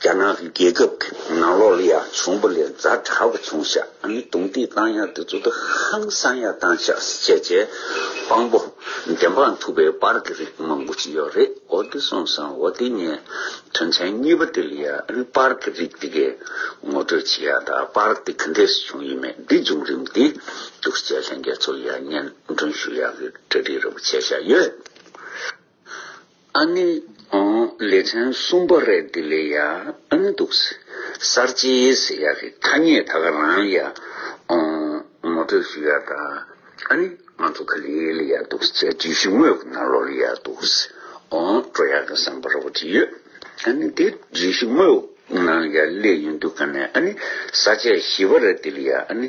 རྒྱ་ནག་རྒྱལ་ཁབ་ཀྱི་ནང་ལོག་ལ་ཡང་བྱུང་པ་ལས་རྫ་དྲག་པོ་བྱུང་ཤག་གིས་རྡུང་རྡེག་བཏང་ཡག་དེ་ཚོ་དུ་ཧང་བསང་ཡག་བཏང་ཤག་སི་བྱས་བྱས་དཔང་པོ་བདེན་དཔང་ཐུབ་པའི་པར་གི་རིགས་མང་པོ་ཅི་ཡོག་རེད་འོ་དེ་སོང་སང་འོ་དེ་ངས་དོན་ཚན་གཉིས་པ་དེ་ལ་ཡང་པར་གི་རིགས་དེ་གའི་ངོ་སྤྲོད་བྱེད་ཡག་དང་པར་དེ་ག་འདྲས་སུ་བྱུང་ཡོད་མེད་འདི་བྱུང་རིམ་དེ་དུག་སྤྱད་ལྷན་རྒྱས་ཚོ་ཡང་སྙན་སྒྲོན་ཞུ་ཡག་གི་གྲ་སྒྲིག་རིང་པོ་བྱས་ཤག་ཡོད། ཨ་ནི། ཨོང་ལེ་ཕྲན་གསུམ་པ་རེད་འདི་ལས་ཡག་ཨ་ནི་འདུག། གསར་བརྗེའི་ཟེར་ཡག་གི་ཐ་སྙད་ད་ག་རང་ཡག་ཨོང་ངོ་སྤྲོད་ཞུ་ཡག་ད་ཨ་ནི་ང་ཚོ་ག་ལི་ལ་ཡག་འདུག་བཅས་བརྗོད་གཞི་དངོས་ཀ་ན་ལོ་རི་ཡག་འདུག་ཨོང་སྤྲོ་ཡག་ག་བསམ་པ་ར་བ་ཅི་ཡོད་ཨ་ནི་འདི་བརྗོད་གཞི་དངོས་ཀ་ན་ཡག་ལེ་ཡོད་འདུག་ག་ནས་ཨ་ནི་ས་བཅད་བཞི་པ་རེད་འདི་ལ་ཡག་ཨ་ནི།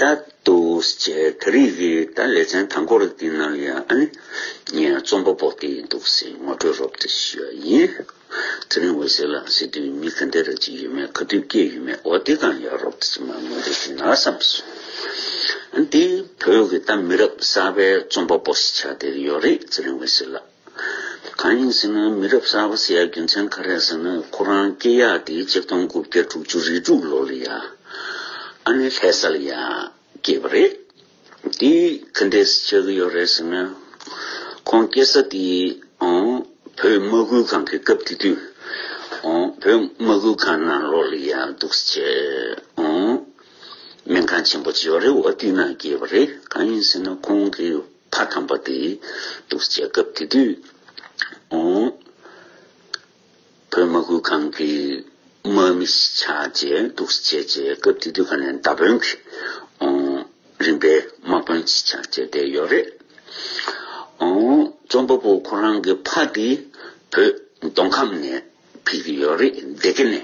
ད་དུ་ཁྱེད་རིགས་ཀྱི་ད་ལེ་ཚན་དང་པོ་རིགས་འདི་ནང་ཡོད་ཨ་ནི། ངས་རྩོམ་པ་པོ་དེ་ཡིན་འདུག་ཟེར་ངོ་སྤྲོད་རོབ་ཏུ་ཞུ་བ་ཡིན། ཚེ་རིང་འོད་ཟེར་ལགས་སྲིད་དོན་མི་ག་འདི་ར་ཅིག་ཡོད་མེད་ག་དུས་སྐྱེས་ཡོད་མེད་འོ་དེ་གང་ཡག་རོབ་ཏུ་ཅིག་མ་ངོ་སྤྲོད་ཞུ་ན་བསམ་སོང། འདི་བོད་ཀྱི་ད་མི་རབས་གསར་པའི་རྩོམ་པ་པོ་ཞིག་ཆགས་བསྡད་ཀྱི་ཡོད་རེད་ཚེ་རིང་འོད་ཟེར་ལགས། གང་ཡིན་ཟེར་ན་མི་རབས་གསར་པ་ཟེར་ཡ་རྒྱུ་མཚན་ག་རེད་ཟེར་ན་ཁོ་རང་སྐྱེས་ཡག་དེ་གཅིག་སྟོང་དགུ་བརྒྱ་དྲུག་ཅུ་རེ་དྲུག་ལོ་ལ་ཡ་ཨ་ནེ་ལྷས་ས་ལ་ཡ་སྐྱེས་པ་རེད། དེ་ག་འདྲས་སུ་ཆགས་ཀྱི་ཡོད་རེད་ཟེར་ན། ཁོང་སྐྱེས་ས་དེ་བོད་དམག་ཁུལ་ཁང་གི་སྐབས་དེ་དུས་བོད་དམག་ཁུལ་ཁང་ནང་ལོག་ལ་ཡ་འདུག་ས་ཆེ་སྨན་ཁང་ཆེན་པོ་ཆེ་བ་རེ་བ་དེ་ནང་སྐྱེས་པ་རེད་གང་ཡིན་ཟེར་ན་ཁོང་གི། མཐའ་དམ་པ་དེ་གཏུགས་བྱེད་སྐབས་དེ་དུས། བོད་མ་བཀུར་ཁང་གི་དམག་མི་ཆགས་རྗེས་གཏུགས་བྱེད་ཀྱི་སྐབས་དེ་དུས་ཁ་ནས་མདའ་དཔོན་གྱི་རིམ་པའི་དམག་དཔོན་ཆགས་རྗེས་བསྡད་ཡོད་རེད། རྩོམ་པ་པོ་ཁོ་རང་གི་ཕ་དེ་བོད་མདོ་ཁམས་ནས། ཕིག་གི་ཡོད་རེད་བདེ་སྐྱིད་ནི་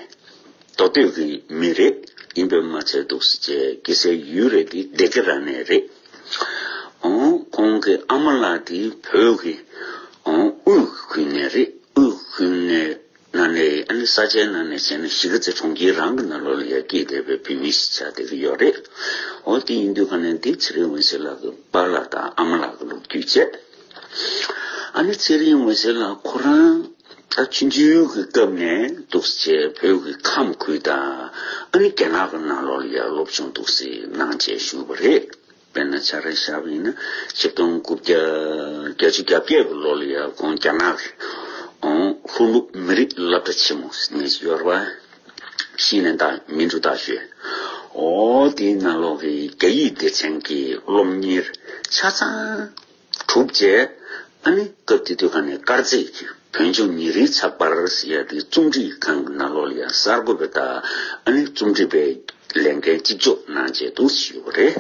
མདོ་སྟོད་ཀྱི་མི་རེད་ཡིན་པས་མ་ཚད་འདུག་སེ་བཅས་སྐྱེ་སའི་ཡུལ་རེད་འདི་བདེ་སྐྱིད་ར་ནས་རེད་ཨོ་ཁོང་གི་ཨ་མ་ལགས་འདི་བོད་ཀྱི་ཨོ་དབུས་ཁུལ་ནས་རེད་དབུས་ཁུལ་ནས་ན་ནས་ཨ་ནི་ས་ཆའི་ནང་ནས་བྱས་ན་གཞིས་ཀ་རྩེ་གྲོང་ཁྱེར་རང་གི་ན་ལོ་ལ་ཡར་སྐྱེས་བསྡད་པའི་བུད་མེད་ཞིག་ཆགས་བསྡད་ཀྱི་ཡོད་རེད་ཨོ་དེ་ཡིན་དུས་ག་ནས་འདི་ཚེ་རིང་འོད་ཟེར་ལགས་ཀྱི་པ་ལགས་དང་ཨ་མ་ལགས་ཀྱི་ལུག་རྒྱུད་བཅས། ཨ་ནེ་ཚེ་རིང་འོད་ཟེར་ལགས་ཁོ་རང་ད་ཕྱིན་ཆད་ཡུལ་གྱི་སྐབས་ནས་འདུག་ཚེ་བོད་ཀྱི་ཁམས་ཁུལ་དང་ཨ་ནེ་རྒྱ་ནག་གི་ནང་ལོགས་ལ་ཡར་ལོབས་བྱུང་འདུག་ཟེར་གནང་བཅས་ཞུས་པ་རེད་དཔེར་ན་ཆ་རེ་བཞག་པ་ཡིན་ན་ཆིག་སྟོང་དགུ་བརྒྱ་བརྒྱ་ཅུ་གྱ་བརྒྱད་གི་ལོ་ལ་ཡར་དགོང་རྒྱ་ནག་གི་ལྷོ་ནུབ་མི་རིགས་བླ་བྲ་ཆེན་མོ་ནས་ཡོར་བ་ཤི་ནས་དག་མིན་འབྲུག་དག་ཤོད་འོ་དེའི་ནང་ལོགས་ཀྱི་རྒྱ་ཡིག་སྡེ་ཚན་གྱི་སློབ་གཉེར་ཆ་ཚང། གྲུབ་རྗེས། ཨ་ནི་སྐབས་དེ་དུས་ཁ་ནས་དཀར་མཛེས་ཀྱི་བོན་ཆོས་ཉིན་རེའི་ཚགས་པར་ཞེས་ཡ་དེའི་རྩོམ་སྒྲིག་ཁང་གི་ནང་ལོག་ལ་ཡང་གསར་འགོད་པའི་བརྡ་ཨ་ནི་རྩོམ་སྒྲིག་པའི་ལས་འགན་གཅིག་ལྕོགས་གནང་བྱེད་དུ་ཞུས་ཡོད་པ་རེད།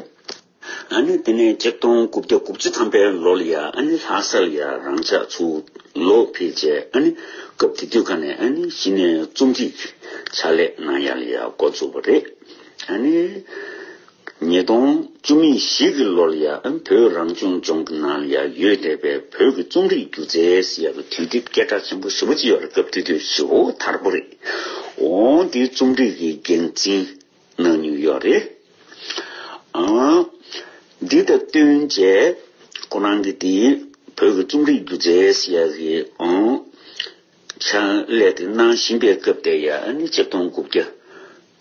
ཨ་ནི་དེ་ནས་གཅིག་སྟོང་དགུ་བརྒྱ་དགུ་བཅུ་ཐམ་པའི་ལོ་ལ་ཡ་ཨ་ནི་ལྷ་སར་ཡ་རང་ཕྱག་ཚུགས་ལོ་ཕེབས་རྗེས་ཨ་ནི་སྐབས་དེ་དུས་ཁ་ནས་ཨ་ནི་གཞི་ནས་རྩོམ་སྒྲིག་ཕྱག་ལས་གནང་ཡ་ལ་ཡ་འགོ་བཙུགས་པ་རེད། ཨ་ནི། ཉིས་སྟོང་བཅུ་གཉིས་བཞི་གི་ལོར་ཡང་བོད་རང་སྐྱོང་ལྗོངས་ཀྱི་ནང་ཡ་ཡོད་བསྡད་པའི་བོད་ཀྱི་རྩོམ་རིག་སྒྱུ་རྩལ་ཡག་གི་དུས་དེབ་སྐད་གྲགས་ཆེན་པོ་བཞི་པོ་སྤྱི་བར་སྐབས་དུས་དེབ་བཞི་བོ་དར་པོ་རེད། འོང་དེའི་རྩོམ་སྒྲིག་གི་འགན་འཛིན་གནང་མྱོང་ཡོད་རེད། ཨང། འདི་དང་བསྟུན་རྗེས་ཁོ་རང་གིས་དེའི་བོད་ཀྱི་རྩོམ་རིག་སྒྱུ་རྩལ་ཡག་གི་ཨང། ཕྱག་ལས་དེ་གནང་བཞིན་པའི་སྐབས་དེ་ཡར་ནི་ཆིག་སྟོང་དགུ་བརྒྱ།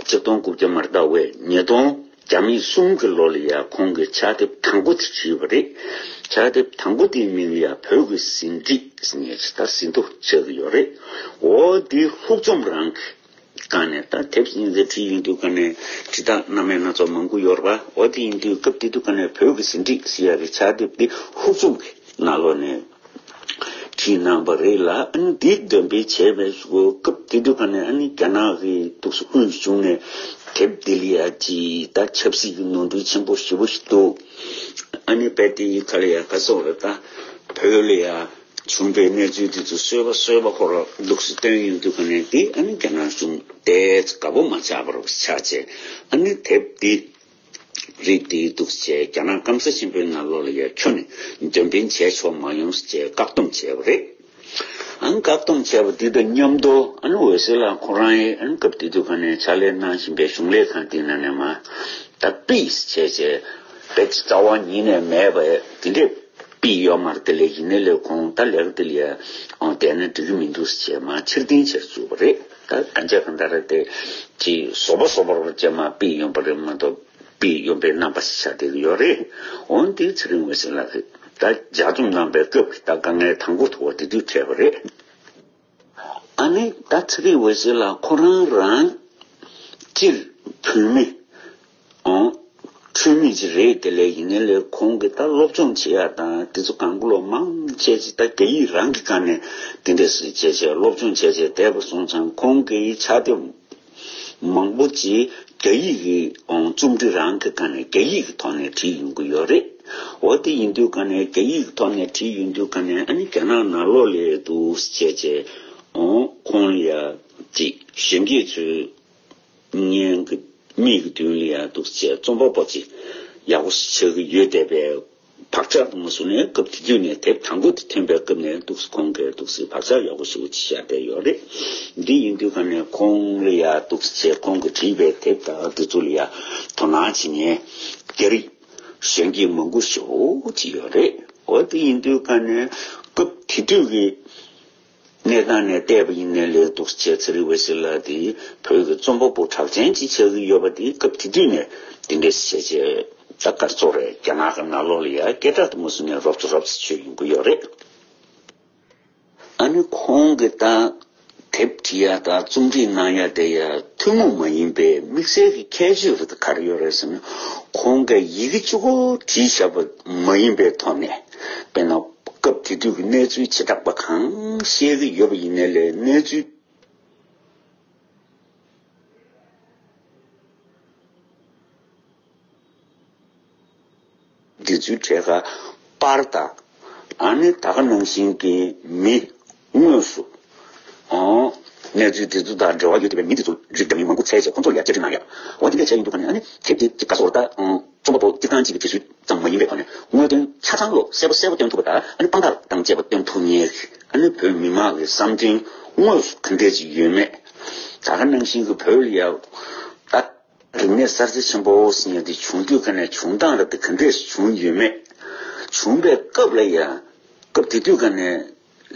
ཆིག་སྟོང་དགུ་བརྒྱ་མར་ཟླ་བའི་ཉིས་སྟོང་བརྒྱ་མེད་གསུམ་གྱི་ལོ་ལ་ཡང་ཁོང་གིས་ཕྱག་དེབ་དང་པོ་དེ་བྲིས་པ་རེད། ཕྱག་དེབ་དང་པོ་དེའི་མིང་ཡང་བོད་ཀྱི་ཟིན་བྲིས་ཟེར་ནས་ཇི་ལྟར་ཟིན་ཐོ་ཆགས་ཀྱི་ཡོད་རེད། འོ་འདི་ལྷུག་རྩོམ་རང་གི། བཀང་ནས་ད་དེབ་སྙིང་བརྩེ་བྲིས་ཡིན་དུས་ཀ་ནས་དྲི་རྟགས་རྣམ་མེད་སྣ་ཚོགས་མང་པོ་ཡོར་བ་འོ་དེ་ཡིན་དུས་སྐབས་དེ་དུས་ཀ་ནས་བོད་ཀྱི་ཟིན་བྲིས་ཟེར་ཡ་རེ་ཆགས་དེབ་དེ་ཧུར་བཙུགས་ནས་ན་ལོ་ནས་བྲིས་གནང་བ་རེད་ལ་ཨ་ནི་དེ་འདོན་སྤེལ་བྱས་པའི་སྐབས་དེ་དུས་ཀ་ནས་ཨ་ནི་རྒྱ་ནག་གི་དུག་གསོ་དབུས་གཞུང་ནས་དེབ་དེ་ལ་ཅི་ད་ཆབ་སྲིད་ཀྱི་ནོར་འཁྲུལ་ཆེན་པོ་ཞེ་པོ་ཞིག་འདུག་ཨ་ནི་བལ་དེ་ཡི་ཁ་ལ་ཡ་ག་སོགས་ལ་ད་བོད་ལ་ཡ། བྱུང་པའི་གནས་ཚུལ་དེ་ཚོ་སོས་པ་སོས་པ་ཁོ་ར་ལུགས་སུ་སྟོན་ཡོང་དུས་ག་ནས་དེ་ཨ་ནི་རྒྱ་ནག་གཞུང་དེ་ཚོ་དགའ་པོ་མ་ཆགས་པར་ཆགས་རྗེས་ཨ་ནི་དེབ་འདི་རིགས་འདི་འདུག་ཅེས་རྒྱ་ནག་སྐམ་ས་ཆེན་པོའི་ནང་ལོག་ལ་ཡ་ཁྱོ་ནི་འདོན་འཕེན་བྱས་ཆོག་མ་ཡོང་ཟེར་ཅེས་བཀག་སྡོམ་བྱས་པ་རེད། ཨ་ནི་བཀག་སྡོམ་བྱས་པ་དེ་དང་མཉམ་དུ་ཨ་ནི་འོད་ཟེར་ལགས་ཁོ་རང་ཡིས་ཨ་ནི་སྐབས་དེ་དུས་ག་ནས་ཕྱག་ལས་གནང་བཞིན་པའི་གཞུང་ལས་ཁང་དེའི་ནང་ནས་མ་ད་པིས་བྱས་རྗེས་བེད་སྤྱི་རྩ་བ་ཉིད་ནས་མེད་པ་དེ་འདྲས། པི་ཡོག་མར་དེ་ལས་ཡིན་ན་ལས་གོང་ད་ལེགས་དེ་ལས་འོང་བསྡད་ན་འགྲིག་གི་མི་འདུག་ཅེས་མ་ཕྱིར་འཐེན་བྱེད་བཅུག་པ་རེད་ད་གང་བྱས་གང་ད་རེད་དེ་གྱི་བཟོ་པ་བཟོ་པར་བྱས་མ་པི་ཡོན་པ་རེད་མ་གཏོགས་པི་ཡོན་པའི་རྣམ་པ་ཞིག་ཆགས་བསྡད་ཀྱི་ཡོད་རེད་འོན་ཏེ་ཚེ་རིང་བའི་སེམས་ལ་ད་ཇག་རྩོམ་གནང་པའི་སྐབས་ཀྱི་ད་དཀའ་ངལ་དང་པོ་དུ་བ་དེ་དུས་འཕྲད་པ་རེད། ཨ་ནེ་ད་ཚེ་རིང་བོ་ཞིག་ལ་ཁོ་རང་རང་སྤྱིར་བུད་མེད་འཁྲུལ་མེད་ཅིག་རེད་དེ་ལས་ཡིན་ན་ལས་ཁོང་གིས་ད་སློབ་སྦྱོང་བྱེད་ཡ་དང་དེ་ཚོ་གང་བློ་མང་བྱས་ཅིག་ད་སྐད་ཡིག་རང་གིས་གང་ནས་དེ་འདྲས་སུ་བྱས་བྱས་སློབ་སྦྱོང་བྱས་བྱས་བསྡད་པ་སོང་ཙང་ཁོང་གིས་ཆ་དེ། མང་པོ་ཅིག་རྒྱ་ཡིག་གི་རྩོམ་འབྲི་རང་གི་སྒང་ནས་རྒྱ་ཡིག་གི་ཐོག་ནས་བྲིས་ཡོང་གི་ཡོད་རེད། འོ་དེ་ཡིན་དུས་སྒང་ནས་རྒྱ་ཡིག་གི་ཐོག་ནས་བྲིས་ཡོང་དུས་སྒང་ནས་ཨ་ནི་རྒྱ་ནག་ནང་ལོག་ལས་འདུག་ཅེས་ཅེས་ཁོང་ལ་དྲིས། གཞོན་སྐྱེས་ཚོས་ངའི་མིག་གི་མདུན་ལ་ཡར་འདུག་ཅེས་རྩོམ་པ་པོ་ཅིག་ཡག་པོ་ཞིག་ཆགས་ཀྱི་ཡོད་བསྡད་པས། བག་ཆགས་དང་གཟུགས་ནས་སྐབས་དེ་དུས་ནས་དེབ་དང་པོ་དེ་ཐོན་པའི་སྐབས་ནས་འདུག་ཁོང་གིས་འདུག་སའི་བག་ཆགས་ཡག་པོ་ཞིག་ཅི་བྱས་བསྡད་ཡོད་རེད། འདི་ཡིན་དུས་ག་ནས་ཁོང་ལ་ཡ་འདུག་ཚེ་ཁོང་གིས་བྲིས་པའི་དེབ་དག་འབྲི་ཚུལ་ལ་ཡ་དོ་སྣང་བྱེད་ངེས། རྒྱ་རིགས་གཞོན་སྐྱེས་མང་པོ་ཞིག་འོ་ཅི་ཡོད་རེད་འོ་འདི་ཡིན་དུས་ག་ནས་སྐབས་དེ་དུས་ཀྱི། གནས་སྟངས་ནས་བལྟས་པ་ཡིན་ནའི་ལས་སྡུག་ཟེར་བྱས་ཚེ་རི་བོ་ཞིག་ལ་དེ་བོད་ཀྱི་རྩོམ་པ་པོ་གྲགས་ཅན་གཅིག་བྱ་གི་ཡོད་པ་དེ་སྐབས་དེ་དུས་ནས་དེ་འདྲའི་བྱས་རྗེས་ད་སྐར་ཚོགས་རེད་རྒྱ་ནག་གི་ནག་ལོག་ལ་ཡ་སྐད་དྲག་ཏུ་མ་བཟོ་ནས་རོབ་ཙོ་རོབ་ཙོ་བྱོས་ཡོང་གི་ཡོད་རེད། ཨ་ནི་ཁོང་གི་ད་དེབ་བྲི་ཡ་དང་རྩོམ་བྲིས་གནང་ཡ་དེ་ཡ་ཐུན་མོང་མ་ཡིན་པའི་དམིགས་བསལ་གྱི་ཁྱད་ཆོས་རེད་དོ་ག་རེ་ཡོད་རེད་ཟེར་ན་ཁོང་གི་ཡི་གེ་བཅུ་གོ་བྲིས་བྱས་པ་མ་ཡིན་པའི་ཐོག་ནས། དཔེར་ན། སྐབས་དེ་དུས་ཀྱི་གནས་ཚུལ་བྱེ་བྲག་པ་གང་ཤེས་ཀྱི་ཡོད་པ་ཡིན་ནའི་ལས་གནས་ཚུལ། འབྲི་ཚུལ་གྲས་ཁ་པར་དང། ཨ་ནི་ད་ག་ནང་བཞིན་གྱི་མི། དངོས་སུ། གནས་ཚུལ་འདི་ཚོ་དང་འབྲེལ་བ་ཡོད་བསྡད་པའི་མི་འདི་ཚོ་རིགས་འདྲ་མིན་མང་པོ་ཚད་བཅས་ཁོང་ཚོར་ཡར་བསྐྱར་དྲིས་གནང་ཡོད། འོ་འདི་འདྲ་བྱས་ཡོང་དུས་ཁ་ནས་ཨ་ནི་དེབ་དེ་ག་སོགས་རྟ། རྩོམ་པ་པོ་སྤྱིར་བཏང་གཅིག་གི་དྲི་ཚུལ་ཙམ་མ་ཡིན་པའི་ཐོག་ནས་དངོས་དོན་ཆ་ཚང་བློ་གསལ་པོ་གསལ་པོ་སྟོན་ཐུབ་པ་དང་ཨ་ནི་དཔང་རྟགས་དང་བཅས་པ་སྟོན་ཐུབ་ངེས། ཨ་ནི་བོད་མི་མང་གི་བསམ་འདུན་དངོས་སུ་གང་འདྲས་ཅིག་ཡོད་མེད་ད་ག་ནང་བཞིན་གྱི་བོད་ལ་ཡག་ད། རིག་གནས་གསར་བརྗེ་ཆེན་པོ་ཟེར་འདི་བྱུང་དུས་ག་ནས་བྱུང་སྟངས་ར་དེ་ག་འདྲས་སུ་བྱུང་ཡོད་མེད། བྱུང་པའི་སྐབས་ལ་ཡང། སྐབས་དེ་དུས་ག་ནས།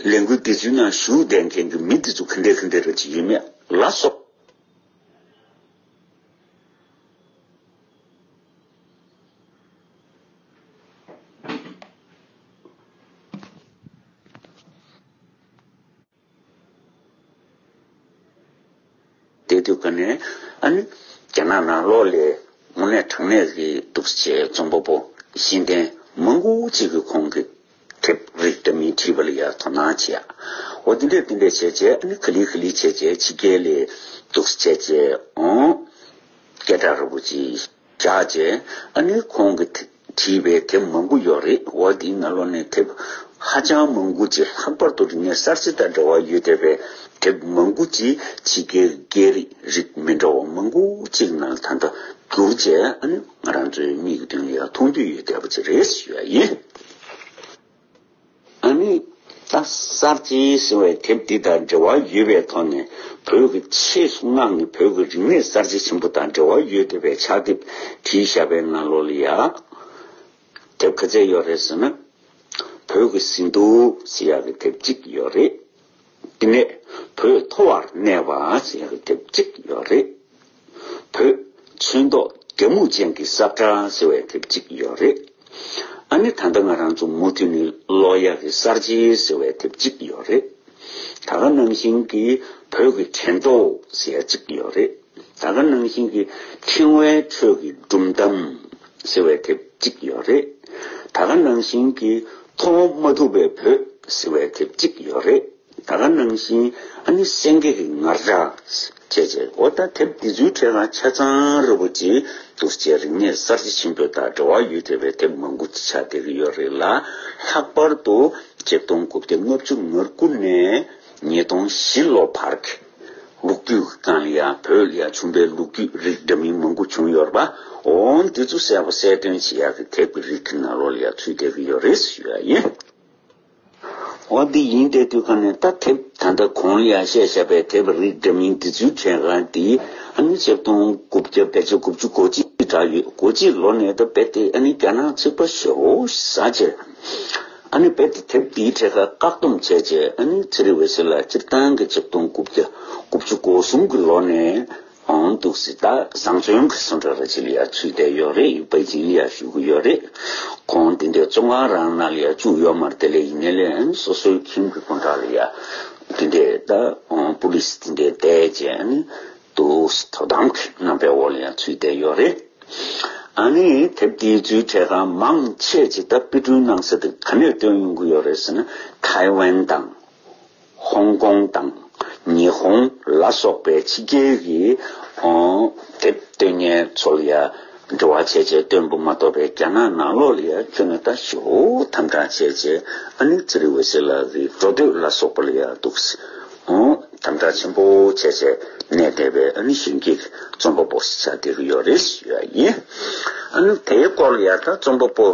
ལས་འགུལ་དེ་ཚོའི་ནང་ཞུགས་བསྡད་མཁན་གྱི་མི་དེ་ཚོ་ག་འདྲའི་ག་འདྲའི་རེད་ཅེས་ཡོད་མེད་ལ་སོགས། བསྡད་འདུག་ག་ནས་ཨ་ནི་རྒྱ་ནག་ནང་ལོག་ལས་མུ་ནས་དྲང་གནས་ཀྱི་འདུག་ཟེར་བྱས་རྩོམ་པ་པོ་གཞི་འདེམས་མང་པོ་གཅིག་གིས་ཁོང་གི་དེབ་རིགས་འདྲ་མིན་བྲིས་པ་ལ་ཡར་དོ་སྣང་བྱས་ཨོ་དེ་འདྲས་དེ་འདྲས་བྱས་བྱས་ཨ་ནི་ག་ལི་ག་ལི་བྱས་བྱས་ཕྱི་རྒྱལ་ལས་འདུག་ཟེར་བྱས་བྱས་ཨོ། སྐད་གྲགས་ར་བོ་ཅི། བྱ་བྱས། ཨ་ནུས་ཁོང་གི་བྲིས་པའི་དེབ་མང་པོ་ཡོད་རེད་འོ་དེའི་ང་ལོ་ནས་དེབ་ཧ་ཅང་མང་པོ་ཅིག་ལྷག་པར་དུ་རིག་གནས་གསར་བརྗེ་དང་འབྲེལ་བ་ཡོད་བསྡད་པའི་དེབ་མང་པོ་ཅིག་ཕྱི་རྒྱལ་གྱི་སྐད་རིགས་རིགས་མི་འདྲ་བ་མང་པོ་ཅིག་ནང་ད་ལྟ་བསྒྱུར་བྱས་ཨ་ནུས་ང་རང་ཚོའི་མིག་གི་མདུན་ལ་མཐོང་རྒྱུ་ཡོད་བསྡད་པ་ཅིག་རེད་ཞུ་ཡ་ཡིན། ཨ་ནི། ད་གསར་བརྗེའི་ཟེར་བའི་དེབ་འདི་དང་འབྲེལ་བ་ཡོད་པའི་ཐོག་ནས་བོད་ཀྱི་ཆེས་སྔགས་ནི་བོད་ཀྱི་རིག་གནས་གསར་བརྗེ་ཆེན་པོ་དང་འབྲེལ་བ་ཡོད་འདོད་པའི་ཕྱག་དེབ་བྲིས་ཞབས་པའི་ན་ལོ་ལི་ཡ། དེབ་ག་ཚད་ཡོད་རེད་ཟེར་ན། བོད་ཀྱི་ཟིན་ཐོ་ཟེར་ཡག་གི་དེབ་གཅིག་ཡོད་རེད། དེ་ནས་བོད་མཐོ་བར་གནས་པ་ཞེས་ལོ་དེབ་གཅིག་ཡོད་རེད། བོད་ཆོས་མདོག་རྒྱ་མུ་ཅན་གྱི་གསར་བཀྲ་ཟེར་བའི་དེབ་གཅིག་ཡོད་རེད། ཨ་ནི་ད་ལྟ་ང་རང་ཚོ་མུ་མཐུད་ནས་ལོ་ཡག་གི་གསར་བརྗེ་ཟེར་བའི་དེབ་གཅིག་ཡོད་རེད། ད་ག་ནང་བཞིན་གྱི་བོད་ཀྱི་དྲན་རྟོག་ཟེར་ཡ་གཅིག་ཡོད་རེད། ད་ག་ནང་བཞིན་གྱི་ཕྲེང་བའི་ཁྲོད་ཀྱི་སྒྲུབ་གདམ་ཟེར་བའི་དེབ་གཅིག་ཡོད་རེད། ད་ག་ནང་བཞིན་གྱི་མཐོང་བ་མ་ཐུབ་པའི་བུ་ཟེར་བའི་དེབ་གཅིག་ཡོད་རེད། ད་ག་ནང་བཞིན་ཨ་ནི་སེང་གེ་གི་ངར་སྒྲགས། བྱས་བྱས་འོ་ད་དེབ་འདི་ཚོའི་གྲས་ལ་ཆ་ཚང་རི་པོ་ཆེའི་གདུལ་བྱའི་རིག་གནས་གསར་བརྗེ་ཆེན་པོའི་དང་འབྲེལ་བ་ཡོད་ཅེས་པའི་དེབ་མང་པོ་ཆགས་བསྡད་ཀྱི་ཡོད་རེད་ལ། ལྷག་པར་དུ་རྗེ་སྟོང་དགུ་བརྒྱ་ལྔ་བཅུ་ངར་སྐུ་ནས་ཉིས་སྟོང་བཞི་ལོ་བར་གྱི། ལུག་རྒྱུད་དང་ཡང་བོད་ཡ་ཆུང་པའི་ལུག་རྒྱུད་རིགས་འདྲ་མིན་མང་པོ་བྱུང་ཡོད་ར་པ་འོང་དེ་ཚོ་གསལ་པོ་གསལ་སྟོན་བྱེད་ཡག་གི་དེབ་ཀྱི་རིགས་ཀྱི་ནང་རོལ་ཡག་ཚུལ་བལྟས་ཀྱི་ཡོད་རེད་ཞུ་ཡག་ཡིན། འོ་འདི་ཡིན་བལྟས་དུས་ག་ནས་ད་དེབ་ད་ལྟ་གོང་ཡ་བཤད་བཞག་པའི་དེབ་རིགས་འདྲ་མིན་འདི་ཚོའི་གྲས་ཀ་འདི་ཨ་ནི་ཆིག་སྟོང་དགུ་བརྒྱ་བརྒྱད་ཅུ་དགུ་བཅུ་གོ་གཅིག་གྲགས་ཡོད་གོ་གཅིག་ལོ་ནས་ད་བལྟས་ཨ་ནི་རྒྱ་ནག་ཚིག་པ་ཞོ་ཟ་ཆེ། དཔེ་དེབ་འདིའི་ཐད་ཀར་བཀག་སྡོམ་བྱས་རྗེས་ཚེ་རིང་བྷེ་སི་ལ་སྤྱིར་བཏང་གི་ཆིག་སྟོང་དགུ་བརྒྱ་དགུ་བཅུ་གོ་གསུམ་གྱི་ལོ་ནས་འང་འདུག་སྲིད་ད་བཟང་བཙོན་གྱི་སུ་འདྲ་ར་བྱེད་ལ་ཡར་ཚུད་བསྡད་ཡོད་རེད་པེ་ཅིང་ལ་ཡར་ཞུ་གི་ཡོད་རེད་ཁོང་དེ་འདྲའི་བཙོན་ཁང་རང་ན་ལ་ཡར་བཅུག་ཡོད་མ་རེད་དེ་ལས་ཡིན་ན་ལས་སོ་སོའི་ཁྱིམ་གྱི་སུ་འདྲ་ལ་ཡར་དེ་འདྲའི་ད་པུ་ལིས་དེ་འདྲའི་བསྡད་རྗེས་འདུག་དོ་དམ་གྱི་རྣམ་པའི་འོག་ལ་ཡང་ཚུད་བསྡད་ཡོད་རེད། ཨ་ནི་དེབ་འདིའི་རྫུན་ཁྲལ་ཁང་མང་ཆེས་ཇི་ལྟར་དཔེ་སྐྲུན་གནང་ཟེར་དུས་ག་ནས་བཏོན་ཡོང་གི་ཡོད་རེད་ཟེར་ན་ཐའེ་ཝན་དང། ཧོང་ཀོང་དང། ཉི་ཧོང་ལ་སོགས་པའི་ཕྱི་རྒྱལ་གྱི་དེབ་སྟོན་མཁན་ཚོ་ལ་ཡང་འབྲེལ་བ་བྱས་རྗེས་སྟོན་འབུ་མ་གཏོགས་པའི་རྒྱ་ནག་ནང་ལོགས་ལ་ཡང་ཁྱོད་ནས་ད་ཞོ་དམ་དྲག་བྱས་རྗེས་ཨ་ནི་ཙི་རི་ཝེ་སི་ལགས་ཀྱི་འགྲོ་སྡོད་ལ་སོགས་པ་ལ་ཡང་འདུག། དམ་དྲག་ཆེན་པོ་བྱས་བྱས་ནས་བསྡད་པའི་ཨ་ནུ་ཞིང་གི་རྩོམ་པ་པོ་ཞིག་ཆགས་བསྡད་ཀྱི་ཡོད་རེད་ཞུས་པ་ཡིན། ཨ་ནུ་དེའི་སྐོར་ཡར་ལྟ་རྩོམ་པ་པོ་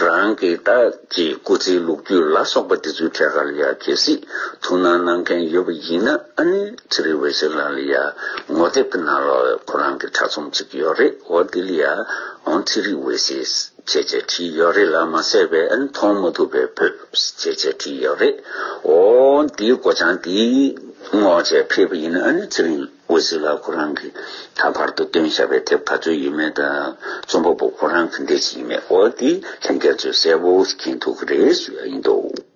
རང་གིས་ད་ཀྱི་སྐུ་ཚེའི་ལུག་རྒྱུད་ལ་སོགས་པ་འདི་ཚོའི་ཐད་ཀར་ཡང་གལ་སྲིད་ཐུགས་སྣང་གནང་མཁན་ཡོད་པ་ཡིན་ན་ཨ་ནུ་ཚེ་རིང་འོད་ཟེར་ལགས་ལ་ཡང་ངོ་དེབ་ཀྱི་ནང་ལ་ཁོ་རང་གི་དྲ་རྩོམ་ཅིག་ཡོད་རེད་འོ་དེ་ལ་ཡང་ཚེ་རིང་འོད་ཟེར། བྱས་བྱས་བྲིས་ཡོད་རེད་ལ་མ་གསལ་བས་མཐོང་མ་ཐུབ་པས་བོད་ཟེར་བྱས་བྲིས་ཡོད་རེད། འོ། འདིའི་སྒོ་བྱང་འདི་སྔོ་བྱས་ཕེབས་པ་ཡིན་ན་ཚེ་རིང་འོད་ཟེར་ལགས་ཁོ་རང་གིས་ད་བར་དུ་བཏོན་བཞག་པའི་དེབ་ག་ཚོད་ཡོད་མེད་དང་རྩོམ་པ་པོ་ཁོ་རང་གི་འདི་ཅི་ཡིན་མེད་འོ་དེ་ལྷན་རྒྱ་མཚོས་གསལ་བོ་མཁྱེན་ཐུབ་ཀྱི་རེད་ཞུ་ཡག་ཡིན་འདུག།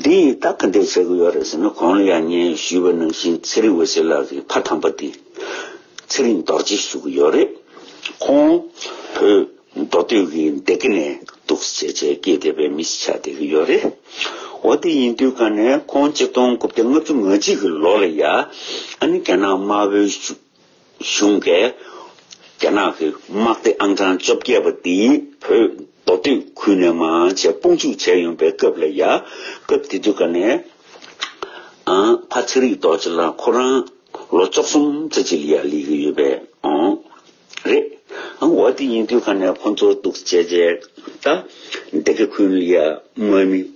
འདི་ཡིན་སྟབས་ག་འདྲའི་བྱེད་དགོས་ཡོད་རེད་ཟེར་ན་གོང་ལ་ཡང་ངས་ཞུས་པ་ནང་བཞིན་ཚེ་རིང་འོད་ཟེར་ལགས་ཀྱི་ཕ་དམ་པ་དེ་ཚེ་རིང་རྡོ་རྗེ་ཞུ་གི་ཡོད་རེད། ཁོང་བོད་མདོ་སྟོད་ཀྱི་སྡེ་དགེ་ནས་འདུག་བྱས་བྱས་སྐད་བདེ་བའི་མི་ཞིག་ཆགས་བསྡད་ཀྱི་ཡོད་རེད། འོ་དེ་ཡིན་དུས་ག་ནས་ཁོང་གཅིག་སྟོང་དགུ་བརྒྱ་ལྔ་བཅུ་ང་གཅིག་གི་ལོ་ལ་ཡ་ཨ་ནི་རྒྱ་ནག་དམར་བོའི་ཆུ་གཞུང་གིས་རྒྱ་ནག་གི་དམག་སྡེ་ཨང་གྲངས་བཅོ་བརྒྱད་པ་འདི་བོད་མདོ་སྟོད་ཁུལ་ནས་མང་ཆེ་དཔུང་འཇུག་བྱས་ཡོང་པའི་སྐབས་ལ་ཡ། སྐབས་དེ་དུས་ཀ་ནས་ཨང། ཕ་ཚེ་རིག་རྡོ་རྗེ་ལགས་ཁོ་རང་ལོ་བཅོ་གསུམ་ཙེ་ཅི་ལི་ཡ་ལས་ཀྱི་ཡོད་པའི་ཨང། རེད་ཨང། འོ་དེ་ཡིན་དུས་ཀ་ནས་ཁོ་ཚོ་གཏུགས་བྱས་རྗེས་ད། སྡེ་དགེ་ཁུལ་ལི་ཡ་དམག་མི།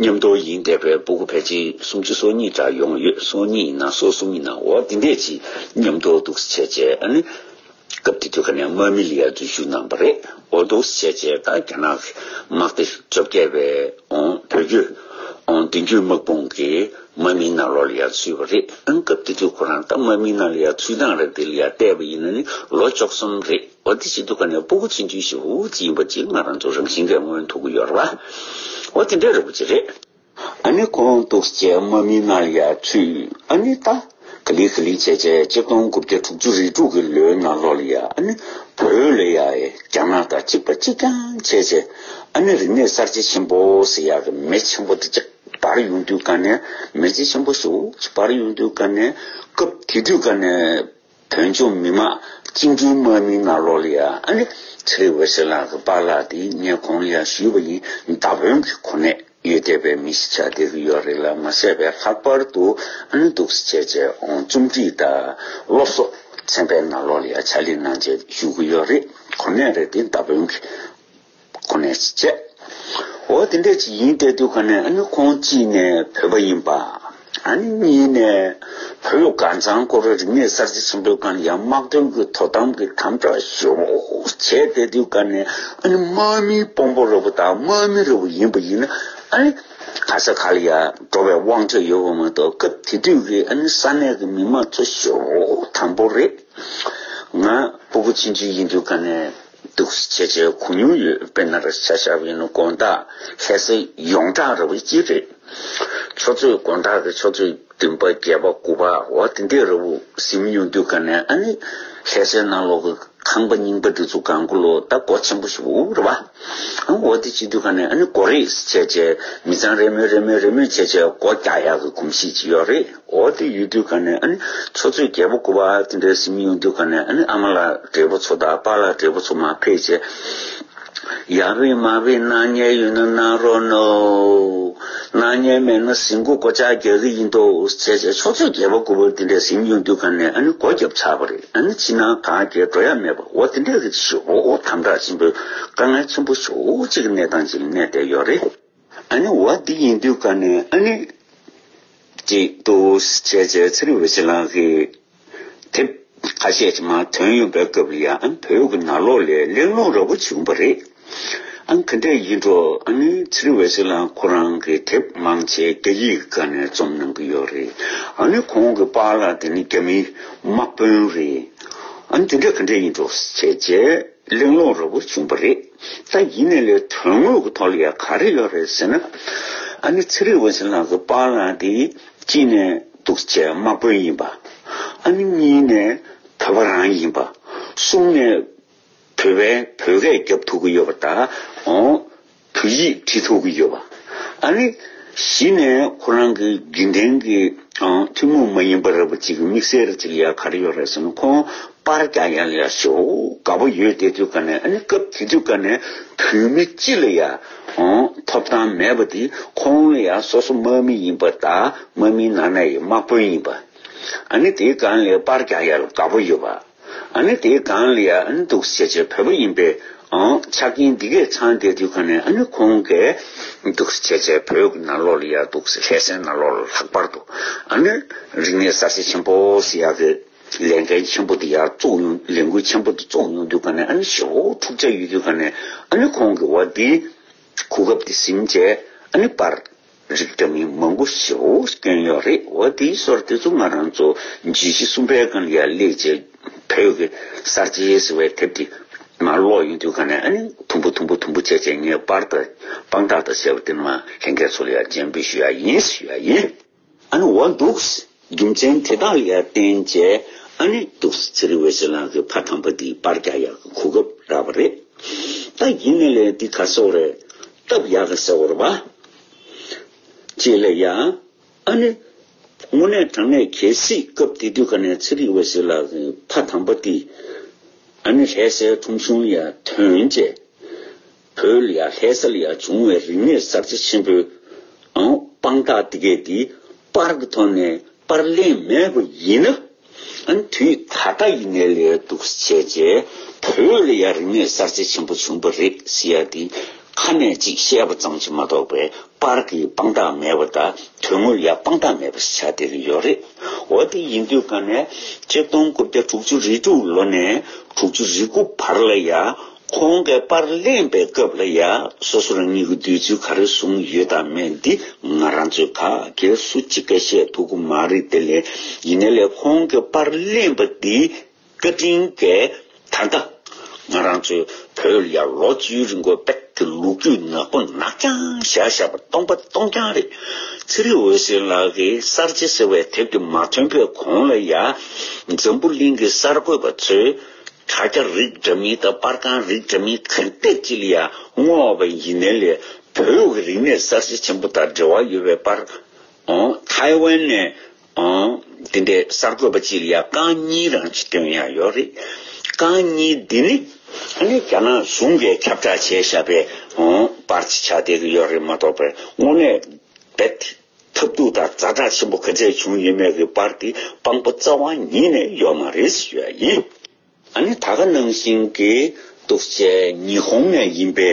ཉམས་རྟོགས་ཡིན་བསྡད་པའི་སྦུ་གུ་ཕལ་ཆེར་སུམ་ཅུ་སོ་གཉིས་འདྲ་ཡོང་ཡོད་སོ་གཉིས་ཡིན་ན་སོ་གསུམ་ཡིན་ན་འོ་འདི་འདྲས་ཀྱི་ཉམས་རྟོགས་འདུག་བྱས་རྗེས་ཨ་ནི། སྐབས་དེ་དུས་ཁ་ནས་མཱ་མི་ལི་ཡ་འཛུལ་ཞུགས་གནང་བ་རེད་འོ་འདུག་བྱས་རྗེས་ད་རྒྱ་ནག་དམག་སྡེ་བཅོ་བརྒྱད་པས་འོ་བོད་བརྒྱུད། འོ་བདུན་བརྒྱུད་དམག་དཔུང་གིས་མཱ་མི་ན་ལོ་ལི་ཡ་འཛུལ་བ་རེད་ཨང་སྐབས་དེ་དུས་ཁོ་རང་ད་མཱ་མི་ན་ལི་ཡ་འཛུལ་སྟངས་རེད་འདི་ལི་ཡ་བལྟས་པ་ཡིན་ན་ནི་ལོ་བཅོ་གསུམ་རེད། འོ་དེ་བྱེད་དུ་ཁ་ནས་སྤུ་གུ་ཚུན་ཆུ་ཞིག་ཧུ་ཧུ་ཚིག་ཡིན་པ་ཅིག་ང་རང་ཚོ་རང་བཞིན་གས་སྔོན་མཐུག་གི་ཡོད་རེད། འོ་དེ་འདྲས་རེད་པོ་ཅིག་རེད། ཨ་ནི་ཁོང་གཏུགས་བྱས་མ་མི་སྣར་ཡར་ཚུད་ཨ་ནི་ལྟ། ག་ལི་ག་ལི་བྱས་བྱས་གཅིག་སྟོང་དགུ་བརྒྱ་དྲུག་ཅུ་རེ་དྲུག་གི་ལོའི་ནང་ལོག་ལ་ཡ་ཨ་ནི་བོད་ལ་ཡ་ཨེ་རྒྱ་ནག་དང་གཅིག་པ་གཅིག་རྐྱང་བྱས་བྱས་ཨ་ནི་རིག་གནས་གསར་བརྗེ་ཆེན་པོ་ཟེར་ཡག་གི་མེ་ཆེན་པོ་དེ་གཅིག་སྦར་ཡོང་དུས་ཀ་ནས་མེ་ལྕེ་ཆེན་པོ་ཞིག་ཧུ་ཧུ་ཆིག་སྦར་ཡོང་དུས་ཀ་ནས་སྐབས་དེ་དུས་ཀ་ནས། བོད་ལྗོངས་མི་དམངས་སྤྱི་འཐུས་དམག་མི་ནག་ལོ་ལི་ཨ་ཨ་ལི་ཚེ་བྷེ་སི་ལགས་ཀྱི་པཱ་ལགས་དེ་ངས་གོང་ཡར་ཞུས་པ་ཡིན་མདའ་དཔོན་གྱི་གོ་གནས་ཡོད་བསྡད་པའི་མི་ཞིག་ཆགས་བསྡད་ཀྱི་ཡོད་རེད་ལ་མ་བསད་པའི་ལྷག་པར་དུ་ཨ་ནུ་འདུག་སེ་བྱས་བྱས་རྩོམ་སྒྲིག་དང་སློབ་གསོ་ཚན་པས་ནག་ལོ་ལི་ཨ་ལ་ཆ་ལེན་གནང་བྱས་ཞུ་གི་ཡོད་རེད་གོ་གནས་རེད་དེ་མདའ་དཔོན་གྱི། ཁོ་ནས་བྱས། འོ་དེ་འདྲ་ཅིག་ཡིན་སྐད་འདུག་ག་ནས་ཨ་ནི་ཁོང་གཅིག་ནས་བོས་པ་ཡིན་པ། ཨ་ནི་གཉིས་ནས་བོད་ལུགས་དཀར་མཛངས་སྐོར་རིག་གནས་གསར་བརྗེ་ཆེན་པོའི་སྒང་ཡང་དམག་དོན་གྱི་དོ་དམ་གྱི་དམ་བསྒྲགས་ཤོག་བྱས་སྐད་འདུག་ག་ནས་ཨ་ནི་དམག་མི་དཔོན་པོ་རི་བོ་དང་དམག་མི་རི་བོ་ཡིན་པ་ཡིན་ན་ཨ་ནི་ག་ས་ག་ལ་ཡང་འགྲོ་བའི་དབང་ཆ་ཡོད་པ་མ་གཏོགས་སྐབས་དེ་དུས་ཀྱི་ཨ་ནི་ས་གནས་ཀྱི་མི་དམངས་ཚོ་ཤོག་དམ་པོ་རེད། ང་སྤུ་གུ་ཆེན་ཆུང་ཡིན་དུས་ག་ནས། འདུག་ཆེ་ཆེ་གོ་མྱོང་ཡོད་དཔེར་ན་ར་ཤ་ཤ་བའི་ནུ་དགོན་དག་ལྷས་སེ་ཡོངས་གྲགས་ར་བའི་སྤྱི་རེད། ཆོས་རྩོད་དགོན་དག་གི་ཆོས་རྩོད་བདུན་པ་བརྒྱད་པ་དགུ་པ་བ་དེ་འདྲས་ར་བུ་ཟིན་མི་མྱོང་དུས་ག་ནས་ཨ་ནི་ལྷས་སེ་ནང་ལོག་གི་ཁང་པ་རྙིང་པ་འདི་ཚོ་གང་དགོས་ལོ་ད་སྒོ་ཆེན་པོ་ཞིག་འུག་ར་བ་ཨང་བ་དེ་བྱེད་དུས་ག་ནས་ཨ་ནི་སྒོ་རེས་ཆེ་ཆེ་མི་ཚང་རེས་མོས་རེས་མོས་རེས་མོས་ཆེ་ཆེ་སྒོ་རྒྱག་ཡག་གི་གོམས་གཤིས་ཅིག་ཡོད་རེད། འོ་དེ་ཡོད་དུས་ག་ནས་ཨ་ནི་ཚོ་ཚོས་རྒྱལ་པོ་སྐུ་པར་དེ་འདྲའི་སེམས་ཡོང་དུས་ག་ནས་ཨ་ནི་ཨ་མ་ལགས་བགྲེས་པོ་ཚོ་དང་པ་ལགས་བགྲེས་པོ་ཚོ་མ་ཕེབས་ཆེ་ཡ་བི་མ་བི་སྣང་བརྙན་ཡོད་ན་གནང་རོགས་གནོངས། སྣང་བརྙན་མེད་ན་ཟིན་སྐུ་སྒོ་ལྕགས་རྒྱག་གི་ཡིན་འདུག་བྱས་བྱས་ཚོ་ཚོས་རྒྱལ་པོ་སྐུ་པར་དེ་འདྲའི་སེམས་ཡོང་དུས་ག་ནས་ཨ་ནི་སྒོ་རྒྱབ་ཆགས་པ་རེད་ཨ་ནི་ཕྱི་ནང་གང་བསྐྱལ་འགྲོ་ཡ་མེད་པ་འོ་དེ་འདྲའི་རིགས་ཞོགས་དམ་བསྒྲགས་ཆེན་པོས་དཀའ་ངལ་ཆེན་པོ་ཤོག་ཅིག་གི་གནས་སྟངས་ཅིག་གནས་བསྡད་ཡོད་རེད། ཨ་ནི་བ་འདི་ཡིན་དུས་ཀ་ནས་ཨ་ནི། ཅེས་ཏུ་བྱས་བྱས་ཚེ་རིག་བྱེད་ལགས་ཀྱི། དེབ་ཁ་ཤས་ཀྱི་མང་དོན་ཡོད་པའི་སྐབས་ལ་ཡང་བོད་ཀྱི་ནང་ལོག་ལས་གླེང་སློང་ར་བོ་བྱུང་བ་རེད། ཨང་ག་འདྲས་ཡིན་འགྲོ་ཨ་ནི་ཚེ་རིག་བྱེད་ལགས་ཁོ་རང་གི་དེབ་མང་ཆེ་རྒྱ་ཡིག་ག་ནས་རྩོམ་གནང་གི་ཡོད་རེད་ཨ་ནི་ཁོང་གི་པཱ་ལགས་དེ་ནི་རྒྱ་མིའི་དམག་དཔོན་རེད་ཨ་ནི་དེ་འདྲས་ག་འདྲས་ཡིན་འགྲོ་བྱས་བྱས། གླེང་སློང་རོལ་པོ་བྱུང་བ་རེད། ད་ཡིན་ནས་ལས་དོན་དངོས་ཀྱི་ཐོག་ལ་ཡང་ག་རེ་ཡོད་རེད་ཟེར་ན། ཨ་ནི་ཚེ་རིང་འོད་ཟེར་ལགས་སུ་སྤང་བླངས་ཏེ་གཅིག་ནས་གདུག་བྱས་དམག་དཔོན་ཡིན་པ། ཨ་ནི་གཉིས་ནས་བོད་པ་རང་ཡིན་པ། གསུམ་ནས་བོད་པའི་བོད་སྐད་རྒྱབ་ཐུབ་ཀྱི་ཡོད་པ་དང། བོད་ཡིག་བྲིས་ཐུབ་ཀྱི་ཡོད་པ། ཨ་ནི། གཞི་ནས་ཁོ་རང་གི་དགེ་རྒན་གྱི་ཐུན་མོང་མ་ཡིན་པ་རེད་པ་གཅིག་གི་དམིགས་བསལ་གཅིག་ཡ་ག་རེ་ཡོད་རེད་ཟེར་ན་ཁོང་དཔར་རྒྱག་ཡ་ལ་ཡ་ཞོག་དགའ་པོ་ཡོད་དེ་དུས་སྐབས་ནས་ཨ་ནི་སྐབས་དེ་དུས་སྐབས་ནས་བོད་མི་སྤྱི་ལ་ཡ་ཐོབ་ཐང་མེད་པ་དེ་ཁོང་ལ་ཡ་སོ་སོ་དམག་མི་ཡིན་པ་དག་དམག་མིའི་ནང་ན་ཡི་དམག་དཔོན་ཡིན་པ་ཨ་ནི་དེའི་སྒང་ལས་དཔར་རྒྱག་ཡ་ལ་དགའ་པོ་ཡོད་པ། ཨ་ནི་དེའི་སྒང་ལ་ཡང་འདུག་བྱས་བྱས་བོད་པ་ཡིན་པས་ཆ་རྐྱེན་འདི་གས་ཚང་སྟེ་དུས་གང་ནས་ཨ་ནི་ཁོང་གས་འདུག་བྱས་བྱས་བོད་ནང་ལོག་ལ་ཡང་འདུག་ལྷས་སའི་ནང་ལོག་ལ་ལྷག་པར་དུ་ཨ་ནི་རིག་གནས་གསར་བརྗེ་ཆེན་པོ་སི་ཡ་གི་ལས་འགན་ཆེན་པོ་འདི་ཡར་བཙུགས་ཡོང་ལས་འགུལ་ཆེན་པོ་འདི་བཙུགས་ཡོང་དུས་གང་ནས་ཨ་ནི་ཞེ་བོ་འཁྲུག་ཆ་ཡོད་དུས་གང་ནས་ཨ་ནི་ཁོང་གི་བ་འདི་གོ་སྐབས་འདི་ཟིན་བྱས་ཨ་ནི་པར། རིགས་འདྲ་མིན་མང་པོ་ཞིག་འོ་སྐྱོན་ཡོད་རེད་འོ་དེའི་སོར་དེ་ཚོ་ང་རང་ཚོ་རྗེས་ཤིག་གསུམ་པའི་སྒང་ཡ་ལེ་རྗེས་བོད་ཀྱི་གསར་བརྗེའི་ཟེར་བའི་དེབ་དེ་ང་ཀློག་ཡོང་དུས་གང་ནས་ཨ་ནི་དུམ་བུ་དུམ་བུ་དུམ་བུ་བྱས་བྱས་ངས་དཔར་དང་དཔང་རྟགས་དང་བྱས་པ་དེ་ནང་ལེན་མཁན་ཚོ་ལ་ཡང་མཇལ་འབུལ་ཞུ་ཡ་ཡིན་ཞུ་ཡ་ཡིན། ཨ་ནི་འོ་འདུག། རྒྱུ་མཚན་དེ་དག་ལས་བརྟེན་རྗེས་ཨ་ནེ་ཏུ་སི་ཚེ་རི་བྷེ་སི་ལང་གི་ཕ་དམ་པ་འདིའི་པར་རྒྱག་ཡག་གི་གོ་སྐབས་རག་པ་རེད། ད་ཡིན་ནི་ལས་འདི་ག་སོག་རེད་སྟབས་ཡག་གི་ཟེར་བར་བ། ཅེས་ལས་ཡ། ཨ་ནེ། དངོས་གནས་དྲང་གནས་གལ་སྲིད་སྐབས་དེ་དུས་ག་ནས་ཚེ་རི་བྷེ་སི་ལ་གི་ཕ་དམ་པ་འདིས་ཨ་ནེ་ལྷས་སའི་ཁྲོམ་གཞུང་ཡ་ཐོན་རྗེས། བོད་ཡ་ལྷས་སལ་ཡ་བྱུང་བའི་རིག་གནས་གསར་བརྗེ་ཆེན་པོའང་དཔང་རྟགས་འདི་གས་འདིའི་པར་གྱི་ཐོག་ནས་པར་གླེང་མེད་པ་ཡིན་ན། ཨན་དུས་ད་ལྟ་ཡིན་ནའི་ལས་སྡུག་བྱས་རྗེས་བོད་ཡ་རིག་གནས་གསར་བརྗེ་ཆེན་པོ་བྱུང་བ་རེད་ཟེར་ཡ་འདི་ཁ་ནས་གཅིག་བཤད་པ་ཙམ་གྱིས་མ་གཏོགས་པའི་པར་གྱི་དཔང་རྟགས་མེད་པ་དང་དོན་དངོས་ཡ་དཔང་རྟགས་མེད་པ་ཞིག་ཆགས་བསྡད་ཀྱི་ཡོད་རེད། འོ་དེ་ཡིན་དུས་ག་ནས་ཁྲི་སྟོང་དགུ་བརྒྱ་དྲུག་ཅུ་རེ་དྲུག་ལོ་ནས་དྲུག་ཅུ་རེ་དགུ་བར་ལ་ཡ། གོང་གི་པར་གླེང་པའི་སྐབས་ལ་ཡང་སོ་སོར་གཉིས་ཀྱི་འདོད་ཚུལ་ག་རེ་བཟུང་ཡོད་དམ་མེད་འདི་ང་རང་ཚོའི་ཁ་གས་སུ་ཅི་དགའ་བཤད་ཐུབ་ཀྱི་མ་རེད་དེ་ལས་ཡིན་ན་ལས་གོང་གི་པར་གླེང་པ་འདིའི་བཀའ་དྲིན་འགའ་ད་ལྟ་ང་རང་ཚོའི་བོད་ཡར་ལོ་བཅུའི་རིང་གོ་བེད་ཀྱི་ལུག་རྒྱུད་ནག་པོ་ནག་རྐྱང་བཞག་བཞག་པ་སྟོང་པ་སྟོང་རྐྱང་རེད། ཚེ་རིང་འོད་ཟེར་ལགས་ཀྱིས་གསར་བརྗེ་ཟེར་བའི་དེབ་དེ་མ་ཐོན་པའི་གོང་ལ་ཡང་འཛམ་བུ་གླིང་གི་གསར་འགོད་པ་ཚོས། དྲ་རྒྱ་རིགས་འདྲ་མིན་དང་པར་ཁང་རིགས་འདྲ་མིན་གང་བལྟས་ཀྱི་ལ་དངོས་བ་བའི་ཡིན་ནའི་ལས་བོད་ཀྱི་རིག་གནས་གསར་བརྗེ་ཆེན་པོ་དང་འབྲེལ་བ་ཡོད་པའི་པར་ཐའེ་ཝན་ནས་འདི་འདྲའི་གསར་འགོད་པ་གཅིག་ལ་ཡང་རྐང་གཉིས་རང་བྱེད་དོན་ཡང་ཡོད་རེད། རྐང་གཉིས་འདི་ནི་ཨ་ནི་རྒྱ་ནག་གཞུང་གིས་ཁྱབ་བསྒྲགས་བྱས་བཞག་པའི་པར་གཅིག་ཆགས་བསྡད་ཀྱི་ཡོད་རེད་མ་གཏོགས་པའི་དངོས་གནས་རྦད་ཐབས་སྡུག་དང་རྫ་དྲག་ཆེན་པོ་ག་ཚད་བྱུང་ཡོད་མེད་ཀྱི་བར་གྱི་དཔང་པོ་རྩ་བ་ཉིད་ནས་ཡོད་མ་རེད་ཟེར་བ་ཡིན། ཨ་ནི་ད་ག་ནང་བཞིན་གྱི་གཏུག་བྱེད་ཉི་ཧོང་ནས་ཡིན་པའི་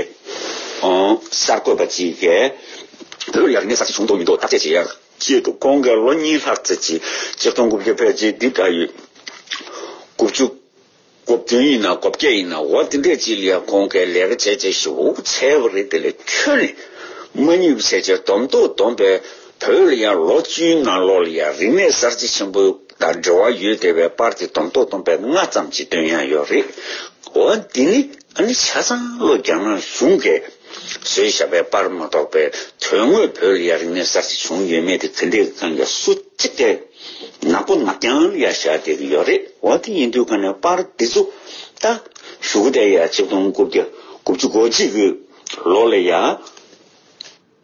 གསར་འགོད་པ་ཅིག་གིས། བོད་རྒྱ་རིག་གནས་གསར་བརྗེ་བྱུང་འདུག་མི་འདུག་བརྟག་དཔྱད་བྱས། ཅེས་འདུག་ཁོང་གིས་ལོ་གཉིས་ལྷག་ཚེ་གཅིག་གཅིག་སྟོང་དགུ་བརྒྱ་བརྒྱད་ཅུ་བདུན་ཕྲག་ཡོད་དགུ་བཅུ་སྒོ་བདུན་ཡིན་ན་སྒོ་བརྒྱད་ཡིན་ན་འོ་འདི་འདྲས་ཅི་ལ་ཡང་གོང་གི་ལས་ཀ་བྱས་བྱས་ཤི་འུ་ཚའི་བ་རེད་དེ་ལས་ཁྱོད་ནི་མ་ཉུལ་བ་བྱས་བྱས་སྡོམ་མདོག་སྡོམ་པའི་བོད་ལ་ཡང་ལོ་བཅུའི་ནང་ལོག་ལ་ཡང་རིག་གནས་གསར་བརྗེ་ཆེན་པོ་དང་འབྲེལ་བ་ཡོད་དེ་བའི་པར་དེ་སྡོམ་མདོག་སྡོམ་པའི་སྔ་ཙམ་གྱི་དོན་ཡང་ཡོད་རེད་འོ་འདི་ནི། ཨ་ནི་ཆ་ཚང་བློ་རྒྱ་ངར་བཟུང་གས། བཟོས་ཞགས་པའི་པར་མ་གཏོགས་པའི་དོན་དངོས་བོད་ཡར་རིང་མེད་གསར་གྱི་བྱུང་ཡོད་མེད་དེ་ག་འདྲའི་གང་ག་སུ་གཅིག་གས་ནག་པོ་ནག་ཀྱང་ཡར་ཞགས་དེ་གི་ཡོད་རེད་འོ་དེ་ཡིན་དུས་ག་ནས་པར་འདི་ཚུགས་ད། ཞུ་གུ་དེ་ཡར་ཆིག་སྟོང་དགུ་བརྒྱ་དགུ་བཅུ་གོ་གཅིག་གི་ལོ་ལ་ཡར།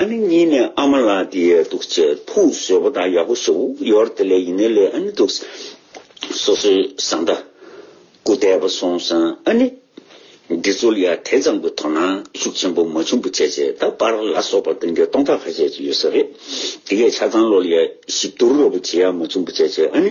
ཨ་ནི་གཉིས་ནས་ཨ་མ་ལགས་འདི་ཡོད་འདུག་ཚེ་ཕུག་བཟོད་པོ་དང་ཡག་པོ་བཟོ་ཡོར་དེ་ལས་ཡིན་ནའི་ལས་ཨ་ནི་འདུག་སོ་སོའི་བཟང་ལྟ། སྐུ་བལྟས་པ་སོང་སང་ཨ་ནི། འདི་ཚོ་ལ་ཡང་དེ་ཙམ་གྱི་དོ་སྣང་ཤུགས་ཆེན་པོ་མ་བྱུང་པ་བྱས་བྱས་ད་པར་ལ་སོགས་པ་དོན་གྱི་སྟོང་ཕྲག་ཁ་ཤས་ཀྱི་ཡོད་ས་རེད། དེ་གས་ཆ་ཚང་ལོ་ལ་ཡང་ཞིབ་བསྡུར་རོགས་པ་བྱེད་ཡ་མ་བྱུང་པ་བྱས་བྱས་ཨ་ནི།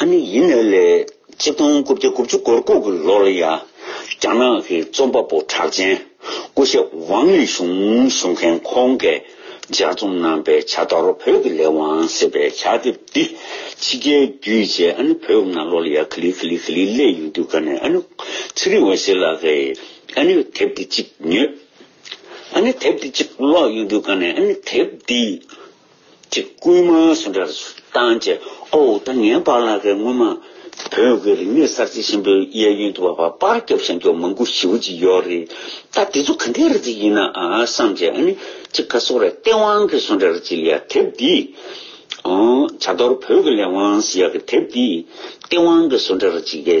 ཨ་ནི་ཡིན་ནོ་ལེ། གཅིག་སྟོང་དགུ་བརྒྱ་དགུ་བཅུ་གོ་དགུ་གི་ལོ་ལ་ཡང་རྒྱ་ནག་གི་རྩོམ་པ་པོ་གྲགས་ཅན་སྐུ་ཞབས་ཝང་ལི་ཞུང་བཞུགས་མཁན་ཁོང་གིས་སྦྱར་རྩོམ་གནང་པའི་བྱ་དོར་བོད་ཀྱི་ལས་དབང་ཟེར་བའི་བྱ་དེབ་འདི་ཕྱི་རྒྱལ་བརྒྱུད་རྗེས་ཨ་ནི་བོད་ནང་ལོ་ལ་ཡར་ཁི་ལི་ཁི་ལི་ཁི་ལི་གླེང་ཡོང་དུས་ཀ་ནས་ཨ་ནི་ཚེ་རིང་འོད་ཟེར་ལགས་ཀྱིས་ཨ་ནི་དེབ་འདི་གཅིག་ཉོས། ཨ་ནི་དེབ་འདི་གཅིག་ཀློག་ཡོང་དུས་ཀ་ནས་ཨ་ནི་དེབ་འདི། གྱི་སྐུལ་མ་སུ་འདྲར་བཏང་བཅས་ཨོའོ་ད་ངན་པ་ལ་ཁའི་སྔོན་མ་བོད་ཀྱི་རིག་གནས་གསར་བརྗེ་ཆེན་པོའི་གཡས་གཡོན་དུ་བ་བ་པར་སྐྱོབ་བྱ་མགྱོགས་མང་པོ་ཞིག་ཅིག་ཡོད་རེད་ད་དེ་ཚོ་ག་འདྲའི་རིག་རྩལ་ཡིན་ནའང་བསམ་བྱས་ཨ་ནི་ཅིག་ཁ་སོ་ར་སྟེས་དབང་གི་སུ་འདྲར་ཅིག་ཡ་དེབ་འདིའི་བྱ་དོར་བོད་ཀྱི་ལས་དབང་སུ་ཡ་གི་དེབ་འདིའི་སྟེས་དབང་གི་སུ་འདྲར་ཅིག་ཡ།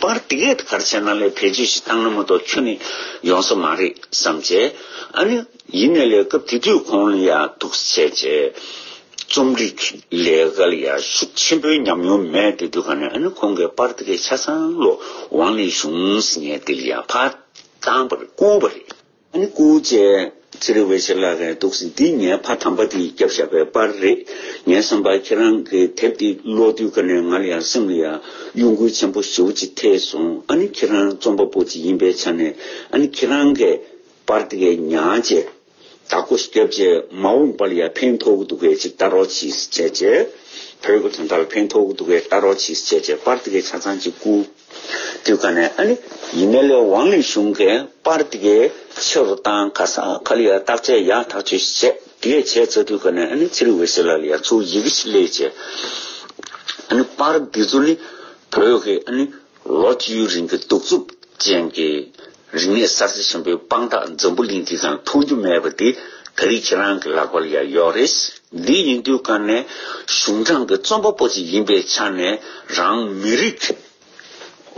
པར་འདི་སྐད་དུ་གར་བྱས་ན་ལས་བེད་སྤྱོད་ཞིག་བཏང་ན་མ་གཏོགས་ཁྱོད་ནི་ཡོང་ས་མ་རེད་བསམ་བྱས། ཨ་ནི། ཡིན་ནའི་ལས་སྐབས་དེ་དུས་ཁོང་ལ་ཡ་ཐུག་བྱས་བྱས། རྩོམ་རིག་གི་ལས་ཀ་ལ་ཡ་ཤུགས་ཆེན་པོའི་ཉམས་མྱོང་མེད་དེ་དུས་ག་ནས་ཨ་ནི་ཁོང་གིས་པར་འདི་སྐད་ཆ་ཚང་བློ་དབང་ལས་གཞུང་ཟེར་ངའི་འདི་ལ་ཡ་ཕ་བཏང་བར་བསྐུར་བ་རེད། ཨ་ནི་སྐུ་བཅས་ཚེ་རིང་བས་ཆེ་ལ་ཁའི་དུག་སེལ་འདི་ངའི་ཕ་དམ་པ་དེའི་སྐྱབས་བཞག་པའི་དཔར་རེད། ངའི་བསམ་པར་ཁྱེད་རང་གི་དེབ་འདི་ཀློག་དུས་ཁ་ནས་ང་ལ་ཡང་སེམས་ལ་ཡང་གཡོ་འགུལ་ཆེན་པོ་ཞེ་བོ་ཅིག་ཐེབས་སོང་ཨ་ནི་ཁྱེད་རང་རྩོམ་པ་པོ་ཅིག་ཡིན་པའི་ཆ་ནས་ཨ་ནི་ཁྱེད་རང་གི་དཔར་དེ་གའི་ཉག་རྗེ་དྭགས་པོ་སྐྱབས་རྗེ་མ་འོངས་པ་ལ་ཡང་ཕན་ཐོགས་ཀྱི་འདུག་གས་ཅིག་ལྟ་རོགས་གྱིས་བྱས་རྗེས་བོད་ཀྱི་དོན་དག་ལ་ཕན་ཐོགས་ཀྱི་འདུག་གས་ལྟ་རོགས་གྱིས་བྱས་རྗེས་དཔར་དེ་གའི་ཆ་ཚང་གཅིག་སྐུ། དུས་ག་ནས་ཨ་ནི་ཡིན་མེད་ལས་ཝང་ལི་ཞུང་གིས་པར་དེ་གའི་ཕྱི་རུ་བཏང་ག་ས་ག་ལ་ཡར་བརྟག་དཔྱད་ཡག་ཐག་ཆོད་ཞིག་བྱས་དེ་གས་བྱས་ཚར་དུས་ག་ནས་ཨ་ནི་ཚེ་རིང་བྷེ་སི་ལ་ལ་ཡར་ཚུར་ཡི་གེ་ཞིག་ལས་བྱས་ཨ་ནི་པར་འདི་ཚོ་ནི་བོད་ཀྱི་ཨ་ནི་ལོ་བཅུའི་རིང་གི་གདུག་རྩུབ་ཅན་གྱི། རིག་གནས་གསར་བརྗེ་ཆེན་པོའི་དཔང་རྟགས་འཛམ་བུ་གླིང་འདི་ཙམ་མཐོང་རྒྱུ་མེད་པ་འདི་ད་རིས་ཁྱེད་རང་གི་ལག་པར་ཡང་ཡོད་རེད། འདི་ཡིན་དུས་ཀ་ནས་གཞུང་དྲང་གི་རྩོམ་པ་པོ་ཅིག་ཡིན་པའི་ཆ་ནས་རང་མི་རིགས་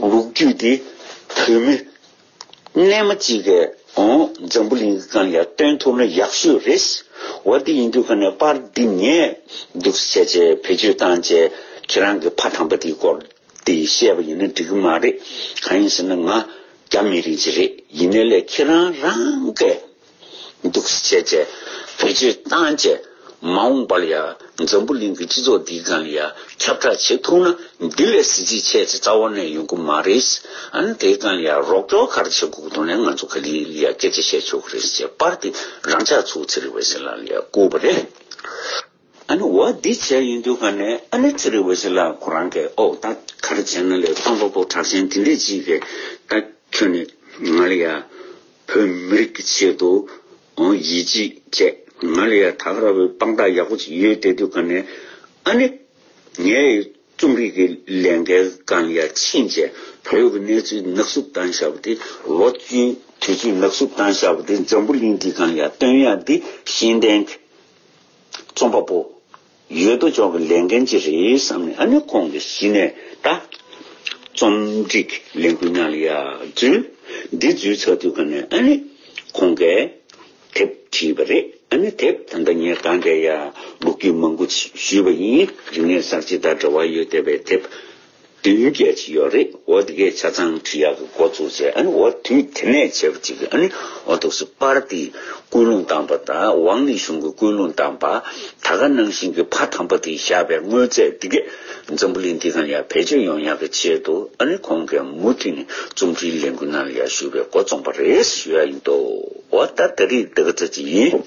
ལོ་རྒྱུས་འདི་བོད་མི་རྣལ་མ་གཅིག་གི་ངང་འཛམ་བུ་གླིང་གི་སྒང་ཡང་སྟོན་ཐུབ་ན་ཡག་ཤོས་རེད། འོ་འདི་ཡིན་དུས་ཀ་ནས་པར་འདི་ངས་འདུག་སེ་བྱས་བེད་སྤྱོད་བཏང་རྗེས་ཁྱེད་རང་གི་ཕ་དམ་པ་དེའི་སྐོར། དེ་བཤད་པ་ཡིན་ན་འགྲིག་གི་མ་རེད། གང་ཡིན་ཟེར་ན་ང་རྒྱ་མི་རིགས་ཅིག་རེད་ཡིན་ནའི་ལས་ཁྱེད་རང་རང་གས་སྡུག་ས་བྱས་བྱས་བེད་སྤྱོད་བཏང་བྱས་མ་འོངས་པ་ལ་ཡ་འཛམ་བུ་གླིང་གི་སྤྱི་ཚོགས་འདིའི་སྒང་ལ་ཡ་ཁྱབ་བསྒྲགས་བྱེད་ཐུབ་ན་འདི་ལས་གཟི་བརྗིད་ཆེ་ཆེ་རྩ་བ་ནས་ཡོང་གི་མ་རེད། ཨན་དེའི་སྒང་ལ་ཡ་རོགས་སྐྱོར་ག་རེ་བྱེད་དགོས་དོན་ལས་ང་ཚོ་ག་ལི་ལ་ཡ་སྐད་ཆ་བཤད་ཆོག་གི་རེད་ཅེས་པར་དེ་རང་ཅག་ཚོའི་ཚེ་རིང་བའི་སེམས་ལ་ཡ་བསྐུར་བ་རེད། ཨ་ནི་བ་འདི་བྱས་ཡིན་དུས་ག་ནས་ཨ་ལེ་ཚེ་རིང་བོད་ཕྱི་ལ་ཁོ་རང་གི་ཨོག་རྟ་གར་བྱས་ན་ལས་ཕམ་པ་པོ་གྲགས་ཅན་དེ་འདྲས་ཅིག་གི་ད་ཁྱོད་ནི་ང་ལ་ཡ་བོད་མི་རིགས་ཀྱི་ཆེད་དུ་ཡིད་ཆེས་བྱས་ང་ལ་ཡ་ད་ག་ར་བའི་དཔང་རྟགས་ཡག་པོ་ཅིག་ཡོད་དེ་དུས་ག་ནས་ཨ་ནི་ངའི་རྩོམ་རིག་གི་ལས་འགན་གང་ཡ་ཕྱིན་རྗེས་བལ་ཡུལ་གྱི་གནས་ཚུལ་ནག་བསུབ་བཏང་ཤག་པ་དེ་ལོ་བཅུའི་དུས་ཚོད་ནག་བསུབ་བཏང་ཤག་པ་དེ་འཛམ་བུ་གླིང་འདི་གང་ཡ་སྟོན་ཡ་འདི་ཤེས་ལྡན་རྩོམ་པ་པོ། ཡོད་དོ་ཅོག་གི་ལས་འགན་ཅི་རེད་བསམ་ནས་ཨ་ནི་ཁོང་གི་གཞི་ནས་ད། རྩོམ་སྒྲིག་ལས་འགུལ་ཉག་ལི་ཡ་འཛུལ། འདི་འཛུལ་ཚར་དུས་ག་ནས་ཨ་ནི། ཁོང་གས། དེབ་བྲིས་པ་རེད་ཨ་ནི་དེབ་ད་ལྟ་ངས་གང་དྲན་ཡ། ལུག་ཁྱུ་མང་པོ་ཞུས་པ་ཡིན་རིག་གནས་གསར་བརྗེ་དང་འབྲེལ་བ་ཡོད་བསྡད་པའི་དེབ། བདུན་བརྒྱད་ཅིག་ཡོད་རེད་འོ་དེ་གའི་ཆ་ཚང་བྲིས་ཡག་གི་འགོ་བཙུགས་བྱས་ཨ་ནི་འོ་དུས་དེ་ནས་བྱས་པ་ཅིག་གིས་ཨ་ནི་འོ་ཐུགས་སུ་པར་ཏིའི་ཀུན་སློང་བཏང་པ་དང་ཝང་ལི་ཞུང་གི་ཀུན་སློང་བཏང་པ་ད་ག་ནང་བཞིན་གྱི་ཕ་དམ་པ་དེས་བཞག་པའི་དངོས་རྫས་དེ་གས་འཛམ་བུ་གླིང་འདི་གང་ཡག་བེད་སྤྱོད་ཡོང་ཡག་གི་ཆེད་དུ་ཨ་ནི་ཁོང་གིས་མུ་མཐུད་ནས་རྩོམ་འབྲིའི་ལས་འགུལ་གནང་ཡག་ཞུ་བའི་འགོ་རྩོམ་པ་རེད་ཞུ་ཡག་ཡིན་འདུག་འོ་ད་ད་རེས་འདི་ག་ཚོད་ཅིག་ཡིན།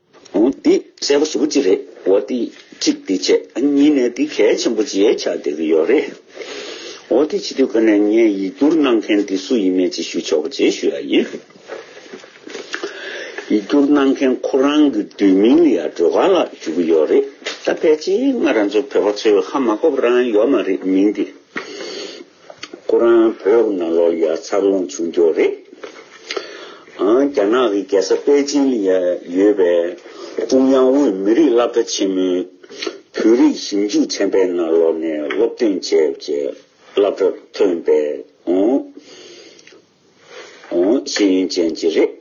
འདི་གསལ་པོ་ཟུག་གི་རེད་འོ་དེ་གཅིག་འདི་བྱས་གཉིས་ནས་འདི་གལ་ཆེན་པོ་བརྗེད་ཆགས་བསྡད་ཀྱི་ཡོད་རེད་འོ་དེ་བྱེད་དུས་ཁ་ནས་ངས་ཡིག་བསྒྱུར་གནང་མཁན་དེ་སུ་ཡིན་མེད་ཅིག་ཞུ་ཆོག་པ་བརྗེད་ཞུ་ཡག་ཡིན། ཡིག་བསྒྱུར་གནང་མཁན་ཁོ་རང་གི་བསྡུས་མིང་ལ་ཡང་སྒྲོལ་དཀར་ལགས་ཞུ་གི་ཡོད་རེད་ད་ཕལ་ཆེར་ང་རང་ཚོ་བོད་པ་ཚོས་ཧ་མ་གོ་བ་རང་ཡོད་མ་རེད་མིང་དེ། ཁོ་རང་བོད་ནང་ལོ་ལེགས་འཚར་ལོངས་བྱུང་མགྱོགས་རེད། ཨང་རྒྱ་ནག་གི་རྒྱལ་ས་པེ་ཅིན་ལ་ཡོད་པའི་ཀྲུང་དབྱང་དབུས་མི་རིགས་སླབ་གྲྭ་ཆེན་མོའི་བོད་རིགས་ཞིབ་འཇུག་ཚན་པའི་ནང་ལོ་ནས་སློབ་སྟོན་བྱས་པའི་སླབ་གྲྭ་ཐོན་པའིཨང། ཤེས་ཡོན་ཅན་གྱི་རེད།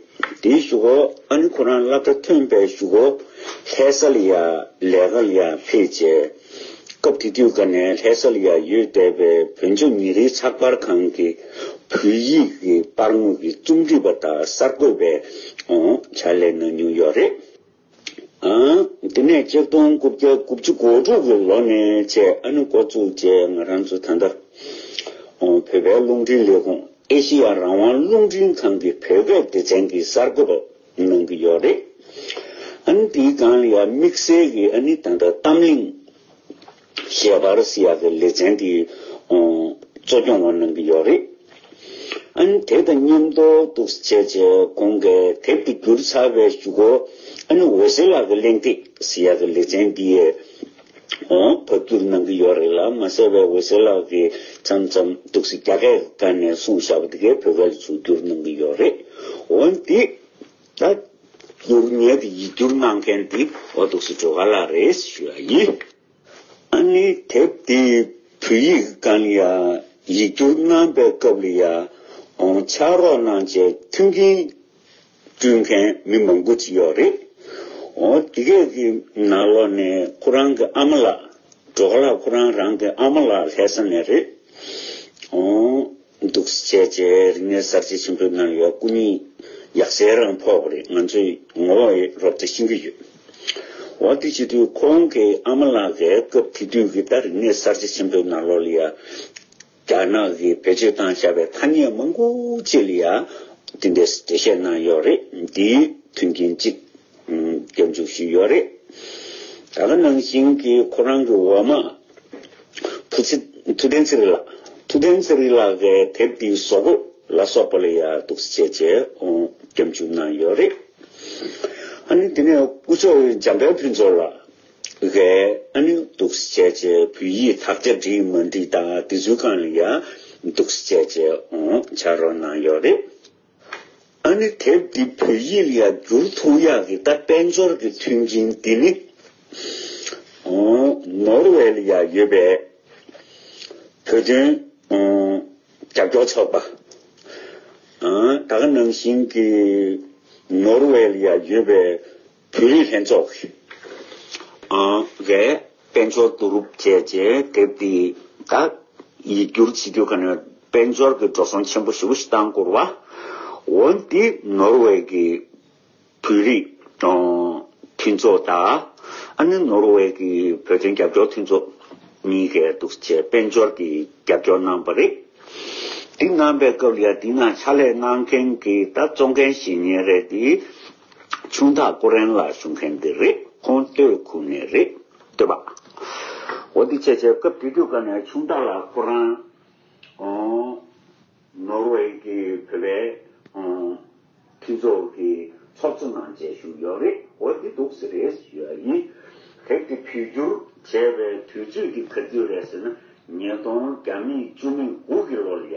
དེའི་བཞུགས་གོ་ཨ་ནི་ཁོ་རང་བླ་གྲྭ་ཐོན་པའི་བཞུགས་གོ། ལྷས་ས་ལི་ཡ་ལས་ཀ་ཡ་ཕེ་བྱས། སྐབས་དེ་དུས་ག་ནས་ལྷས་ས་ལི་ཡ་ཡོད་བསྡད་པའི་བོན་ཆོས་ཉིན་རེའི་ཚགས་པར་ཁང་གི་བོད་ཡིག་གི་པར་ངོས་ཀྱི་རྩོམ་སྒྲིག་པ་དག་གསར་འགོད་པའི་བྱ་ལས་གནང་མྱོང་ཡོད་རེད། དེ་ནས་སྐྱིལ་སྟོང་དགུ་བརྒྱ་དགུ་བཅུ་གོ་དྲུག་གི་ལོ་ནས་བཅས་ཨ་ནུ་འགོ་བཙུགས་རྗེས་ང་རང་ཚོ་ད་ལྟ་བོད་པའི་རླུང་འཕྲིན་ལས་ཁུངས་ཨེ་ཤེ་ཡ་རང་དབང་རླུང་འཕྲིན་ཁང་གི་བོད་སྐད་སྡེ་ཚན་གྱི་གསར་འགོད་པ་གནང་གི་ཡོད་རེད། ཨ་ནི་དེའི་སྒང་ལ་ཡང་དམིགས་བསལ་གྱིས་ཨ་ནི་ད་ལྟ་གཏམ་གླེང། ཤེས་བར་སི་ཡ་གི་ལེ་ཚན་དེ་གཙོ་སྐྱོང་བ་གནང་གི་ཡོད་རེད། ཨ་ནི་དེ་དང་མཉམ་དུ་འདུག་ཟེར་བྱས་རྗེས་གོང་གི་དེབ་དེ་བསྒྱུར་ཚར་བའི་བཞུགས་སྒོ་ཨ་ནི་འོད་ཟེར་ལགས་ཀྱི་གླེང་སྟེགས་སི་ཡ་གི་ལེ་ཚན་དེའི་འོག་ཕབ་བསྒྱུར་གནང་གི་ཡོད་རེད་ལ་མ་ཟད་པའི་འོད་ཟེར་ལགས་ཀྱིས་མཚམས་མཚམས་འདུག་ཟེར་རྒྱ་སྐད་ཀ་ནས་གསུངས་བཞག་པ་དེ་གའི་བོད་སྐད་ལ་བཅོས་བསྒྱུར་གནང་གི་ཡོད་རེད། འོན་ཏེ། ད་སྡུག་བསྔལ་གྱི་ཡིད་སྒྱུར་གནང་མཁན་འདི་འོ་དུག་སི་ཏྲོ་ག་ལ་རེད་ཞུ་ཡ་ཡིན། ཨ་ནི་དེབ་འདི་བོད་ཡིག་རྐང་ཡ་ཡིག་སྒྱུར་གནང་པའི་སྐབས་ལ་ཡ་ཨོང་ཕྱག་རོགས་གནང་བཅས་མཐུན་རྐྱེན་བསྐྲུན་མཁན་མི་མང་པོ་ཅིག་ཡོད་རེད། འོ་དེ་གས་ཀྱི་ན་ལོ་ནས་ཁོ་རང་གི་ཨ་མ་ལགས་ཏྲོ་ག་ལ་ཁོ་རང་རང་གི་ཨ་མ་ལགས་ལྷས་ས་ནས་རེད། འོ་འདུག་བྱས་རྗེས་རིག་གནས་གསར་བརྗེ་ཆེན་པོའི་ནང་ཡོད་སྐུ་ཉིད་ཡག་གསལ་རང་ཕོག་པ་རེད་ང་ཚོས་ངོ་བོ་རོབ་རྩེ་ཤིན་གྱི་ཡོད། འོ་དེ་བྱེད་དུས་ཁོང་གི་ཨ་མ་ལགས་ཀྱིས་སྐབས་དེ་དུས་ཀྱི་ད་རིག་གནས་གསར་བརྗེ་ཆེན་པོའི་ནང་ལོ་ལི་ཡ་རྒྱ་ནག་གིས་བེད་སྤྱོད་བཏང་བཞག་པའི་ཐ་སྙད་མང་པོ་བཅས་ལི་ཡ་དེ་འདྲས་འགྲེལ་བཤད་གནང་ཡོད་རེད་འདིའི་དོན་རྐྱེན་གཅིག། སྐྱབས་འཇུག་ཞིག་ཡོད་རེད། ད་ལྟ་ནང་བཞིན་གྱི་ཁོ་རང་གི་འོ་མ། བུ་ཚེ་ཐུ་བསྟན་ཚེ་རིང་ལགས། ཐུ་བསྟན་ཚེ་རིང་ལགས་ཀྱི་དེབ་འདིའི་བཟོ་བཀོད་ལ་སོགས་པ་ལ་ཡང་གཏུགས་བཤད་བྱས་སྐྱབས་འཇུག་གནང་ཡོད་རེད། ཨ་ནི་དེ་ནས་སྐུ་མཆོག་འཇམ་དཔལ་ཕུན་ཚོགས་ལགས་ཀྱིས་ཨ་ནི་གཏུགས་བཤད་བྱས་བོད་ཡིག་དག་ཆ་འབྲི་མ་འབྲི་དང་དེ་ཚུལ་གང་ལ་ཡང་གཏུགས་བཤད་བྱས་བྱ་རོགས་གནང་ཡོད་རེད། ཨ་ནི་དེབ་འདི་བོད་ཡིག་ཡར་བསྒྱུར་ཐུག་ཡག་གི་ད་དཔལ་འབྱོར་གི་མཐུན་རྐྱེན་འདི་ནི་ནོར་ཝེ་ལ་ཡང་ཡོད་པས་བོད་དོན་རྒྱབ་སྐྱོར་ཚོགས་པ་ད་ག་ནང་བཞིན་གྱི་ནོར་ཝེ་ལ་ཡང་ཡོད་པས་བོད་རིགས་ལྷན་ཚོགས་ཀྱི་དཔལ་འབྱོར་བསྡུ་རུབ་བཅས་ཀྱི་དེབ་འདི་དག་ཡིག་སྒྱུར་བྱེད་རྒྱུ་ག་ནས་དཔལ་འབྱོར་གྱི་འགྲོ་སོང་ཆེན་པོ་ཞེ་བོ་ཞིག་བཏང་བསྐུར་བ། འོན་ཏེ་ནོར་ཝེ་ཀྱི་བོད་རིགས་མཐུན་ཚོགས་དང་ནི་ནོར་ཝེ་ཀྱི་བོད་དོན་རྒྱབ་སྐྱོར་མཐུན་ཚོགས་གཉིས་ཀས་གདུག་བྱས་དཔལ་འབྱོར་གྱི་རྒྱབ་སྐྱོར་གནང་བ་རེད། དེ་གནང་པའི་སྐབས་ལ་དེ་སྔ་ཕྱག་ལས་གནང་མཁན་གྱི་ད་གཙོ་འགན་བཞེས་ཉེན་རེད་དེ། ཆུང་ཐག་ཀོ་རན་ལ་ཞུགས་མཁན་འདི་རེད་ཁོང་སྟོད་ཁུག་ནས་རེད་སྟོད་པ། འོ་འདི་ཆད་ཆད་སྐབས་དུས་དུས་སྐབས་ནས་ཆུང་ཐག་ལ་ཁོ་རང་ནོར་ཝེ་གི་བོད་པའི་མཐུན་ཚོགས་ཀྱི་ཚོགས་གཙོ་ནང་བཅས་ཞུགས་ཡོད་རེད་འོ་འདི་འདུག་ཟེར་རེད་ཟེར་ཡོད་ཡིན། དེབ་དེ་ཕུལ་རྒྱུར་བྱས་པའི་དུས་ཚོད་ཀྱི་ག་དུས་རེད་ཟེར་ན་ཉིས་སྟོང་གྱ་མིག་བཅུ་མིག་དགུ་གི་ལོར་ཡ།